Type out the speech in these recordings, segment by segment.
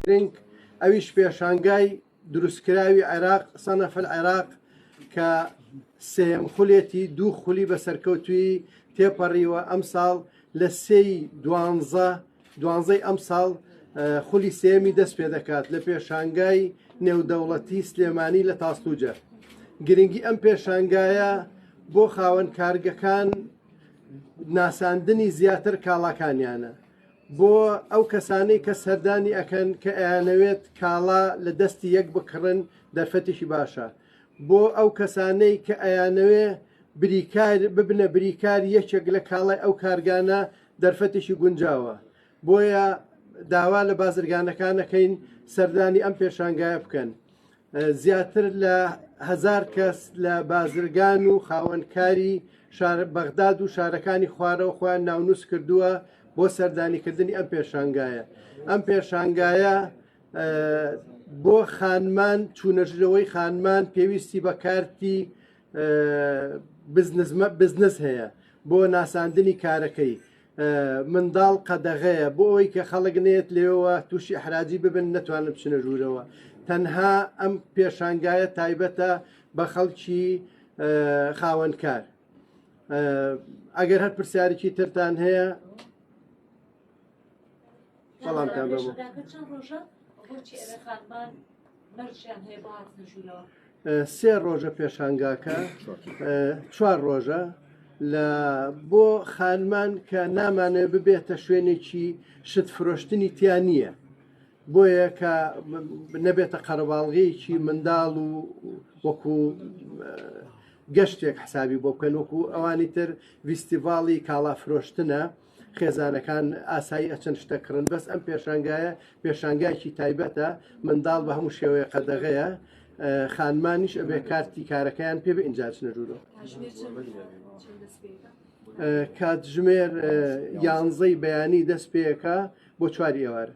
گرنگ ئەویش پێشانگای دروستکراوی عێراق سەنەف العێراق کە سێم خولێتی دوو خولی بە سەرکەوتوی تێپەڕیوە ئەمساڵ لە سێی دوانزە دوانزەی ئەمساڵ خولی سێمی دەست پێ دەکات لە پێشانگای نێودەوڵەتی سلێمانی لە تاستوجە گرنگی ئەم پێشانگایە بۆ خاوەن کارگەکان ناساندنی زیاتر کاڵاکانیانە بۆ ئەو کەسانەی کە سەردانی ئەکەن کە ئەیانەوێت کاڵا لە دەستی یەک بکڕن دەرفەتیشی باشە بۆ ئەو کەسانەی کە ئەیانەوێ بریکار ببنە بریکار یەکێک لە کاڵای ئەو کارگانە دەرفەتیشی گونجاوە بۆیە داوا لە بازرگانەکانەکەین سەردانی ئەم پێشانگایە بکەن زیاتر لە هەزار کەس لە بازرگان و خاوەنکاری بەغداد و شارەکانی خوارەوە خۆیان ناونووس کردووە بۆ سەردانیکردنی ئەم پێشانگایە ئەم پێشانگایە بۆ خانمان چوونەژرەوەی خانمان پێویستی بە کارتی بزنس هەیە بۆ ناساندنی کارەکەی منداڵ قەدەغەیە بۆ ئەوەی کە خەڵک نێت لێەوە تووشی حراجی ببن نەتوانن بچنە ژوورەوە تەنها ئەم پێشانگایە تایبەتە بە خەڵکی خاوەنکار ئەگەر هەر پرسیارێکی ترتان هەیە بەڵام تان بە چەند ڕۆژە بۆچی ئەوێ خانمان مەرجیان هەیە بۆ هاتنە ژوورەوە سێ ڕۆژە پێشانگاکە چوار ڕۆژە لە بۆ خانمان کە نامانێ ببێتە شوێنێکی شت فرۆشتنی تیا نییە بۆیە کە نەبێتە قەرەباڵغەیەکی منداڵ و وەکو گەشتێک حسابی بۆ بکەن وەکو ئەوانی تر ویستیڤاڵی کاڵا فرۆشتنە خێزانەکان ئاسایی ئەچەن شتە کڕن بەس ئەم پێشانگایە پێشانگایکی تایبەتە منداڵ بە هەموو شێوەیە قەدەغەیە خانمانیش ئەبێ کارتی کارەکەیان پێ ئینجاچ نەژورۆ کاتژمێر یانزەی بەیانی دەست پێەکە بۆ چواری ئێوارە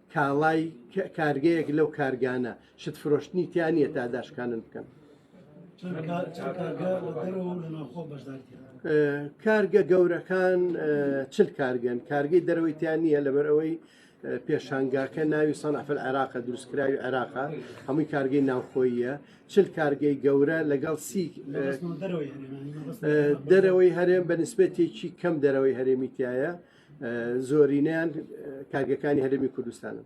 کاڵای کارگەیەک لەو کارگانە شت فرۆشتنی تیا نییە تا داشکانن بکەن کارگە گەورەکان چل کارگەن کارگەی دەرەوەی تیان نییە لەبەر ئەوەی پێشانگاکە ناوی سەنعفل عێراقە دروستکراوی عێراقا هەمووی کارگەی ناوخۆیە چل کارگەی گەورە لەگەڵ سی دەرەوەی هەرێم بە نسبەتێکی کەم دەرەوەی هەرێمیتایە زۆرینەیان کارگەکانی هەرێمی کوردستانن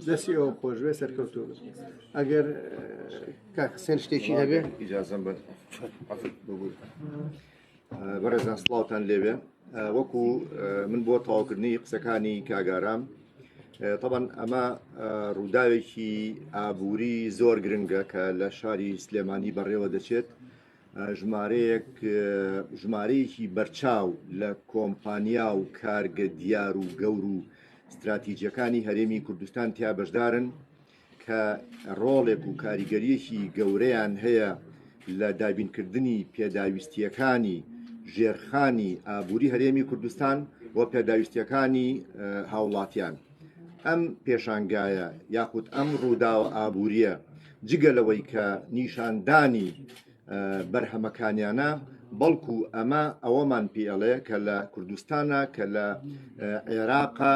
دەستی ئەو خۆش بێ سەرکەوتو ئەگەر کاکسێن شتێکی هەبێ ئیجازم بەڕێزان سڵاوتان لێوێ وەکو من بۆ تەواوکردنی قسەکانی کاگارام طبعاً ئەمە ڕووداوێکی ئابووری زۆر گرنگە کە لە شاری سلێمانی بەڕێوە دەچێت ژمارەیەک ژمارەیەکی بەرچاو لە کۆمپانیا و کارگە دیار و گەور و ستراتیجەکانی هەرێمی کوردستان تیا بەشدارن کە ڕۆڵێک و کاریگەریەکی گەورەیان هەیە لە دابینکردنی پێداویستیەکانی ژێرخانی ئابووری هەرێمی کوردستان و پێداویستیەکانی هاوڵاتیان ئەم پێشانگایە یاخود ئەم ڕووداوە ئابووریە جگە لەوەی کە نیشاندانی بەرهەمەکانیانە بەڵکو ئەمە ئەوەمان پێڵێ کە لە کوردستانە کە لە عێراقا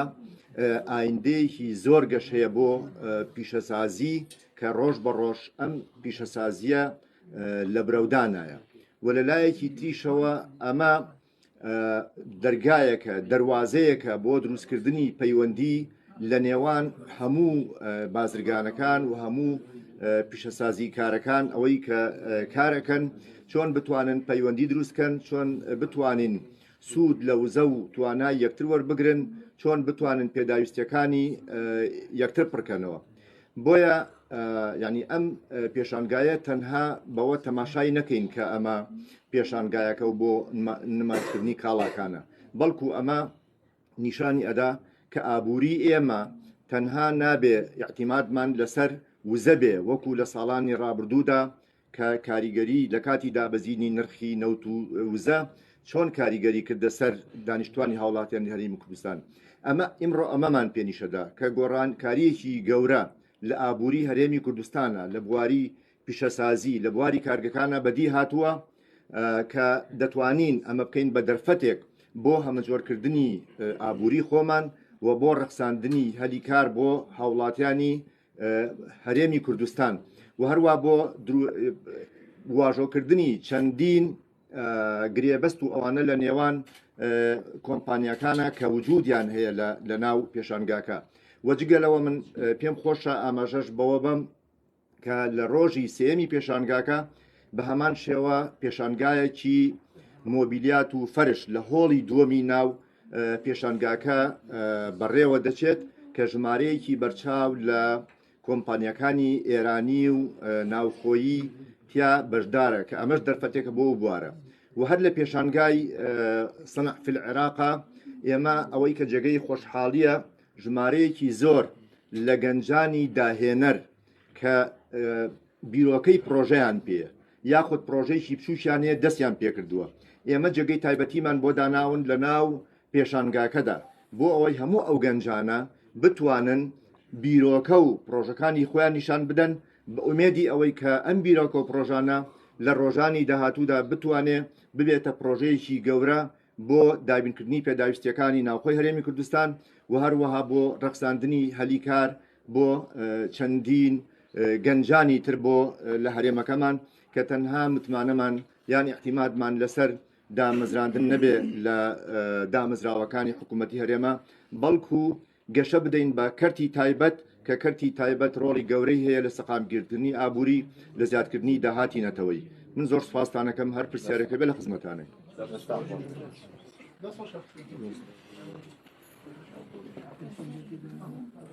ئایندەیەکی زۆر گەش هەیە بۆ پیشەسازی کە ڕۆژ بە ڕۆژ ئەم پیشەسازیە لە برەودانایە و لە لایەکی تریشەوە ئەمە دەرگایەکە دەواازەیەکە بۆ دروستکردنی پەیوەندی لە نێوان هەموو بازرگانەکان و هەموو پیشەسازی کارەکان ئەوەی کە کارەکەن چۆن بتوانن پەیوەندی دروستکەن چۆن بتوانین سوود لە وزە و توانای یەکتر وەربگرن چۆن بتوانن پێداویستیەکانی یەکتر پڕکەنەوە بۆیە یعنی ئەم پێشانگایە تەنها بەوە تەماشای نەکەین کە ئەمە پێشانگایەکە و بۆ نمایشکردنی کاڵاکانە بەڵکو ئەمە نیشانی ئەدا کە ئابووری ئێمە تەنها نابێ یاعتیمادمان لەسەر وزە بێ وەکو لە ساڵانی ڕابردوودا کە کاریگەری لە کاتی دابەزینی نرخی نەوت و وزە چۆن کاریگەری کردە سەر دانیشتوانی هاوڵاتیانی هەرێمی کوردستان ئەمە ئیمڕۆ ئەمەمان پێنیشەدا کە گۆڕانکاریەکی گەورە لە ئابووری هەرێمی کوردستانە لە بواری پیشەسازی لە بواری کارگەکانە بەدی هاتووە کە دەتوانین ئەمە بکەین بە دەرفەتێک بۆ هەمەجۆرکردنی ئابووری خۆمان و بۆ ڕەخساندنی هەلی کار بۆ هاوڵاتیانی هەرێمی کوردستان و هەروە بۆ واژۆکردنی چەندین گرێبەست و ئەوانە لە نێوان کۆمپانیەکانە کە وجودیان هەیە لە ناو پێشانگاکە وەجگەلەوە من پێم خۆشە ئاماژەش بەوە بم کە لە ڕۆژی سێمی پێشانگاکە بە هەمان شێوە پێشانگایەکی مۆبیلیات و فەرش لە هۆڵی دووەمی ناو پێشانگاکە بەڕێوە دەچێت کە ژمارەیەکی بەرچاو لە کۆمپانیەکانی ئێرانی و ناوخۆیی تیا بەشدارە کە ئەمەش دەرفەتێکە بۆ بوارە و هەر لە پێشانگای سەنعفل عێراقا ئێمە ئەوەی کە جێگەی خۆشحاڵیە ژمارەیەکی زۆر لە گەنجانی داهێنەر کە بیرۆکەی پرۆژیان پێ یاخود پڕۆژەیەکی بچووکیان هەیە دەستیان پێکردووە، ئێمە جێگەی تایبەتیمان بۆ داناون لەناو پێشانگاکەدا، بۆ ئەوەی هەموو ئەو گەنجانە بتوانن بیرۆکە و پڕۆژەکانی خۆیان نیشان بدەن، بە ئومێدی ئەوەی کە ئەم بیرۆکە و پڕۆژانە لە ڕۆژانی داهاتوودا بتوانێت ببێتە پڕۆژەیەکی گەورە بۆ دابینکردنی پێداویستییەکانی ناوخۆی هەرێمی کوردستان و هەروەها بۆ ڕەخساندنی هەلی کار بۆ چەندین گەنجانی تر بۆ لە هەرێمەکەمان کە تەنها متمانەمان یان احتیمادمان لەسەر دامەزراندن نەبێ لە دامەزراوەکانی حکوومەتتی هەرێمە بەڵکو گەشە بدەین بە کەرتی تایبەت، کە کەرتی تایبەت ڕۆڵی گەورەی هەیە لە سەقامگیرکردنی ئابووری، لە زیادکردنی داهاتی نەتەوەیی. من زۆر سوپاستان ئەکەم، هەر پرسیارێکە بێت لە خزمەتانین.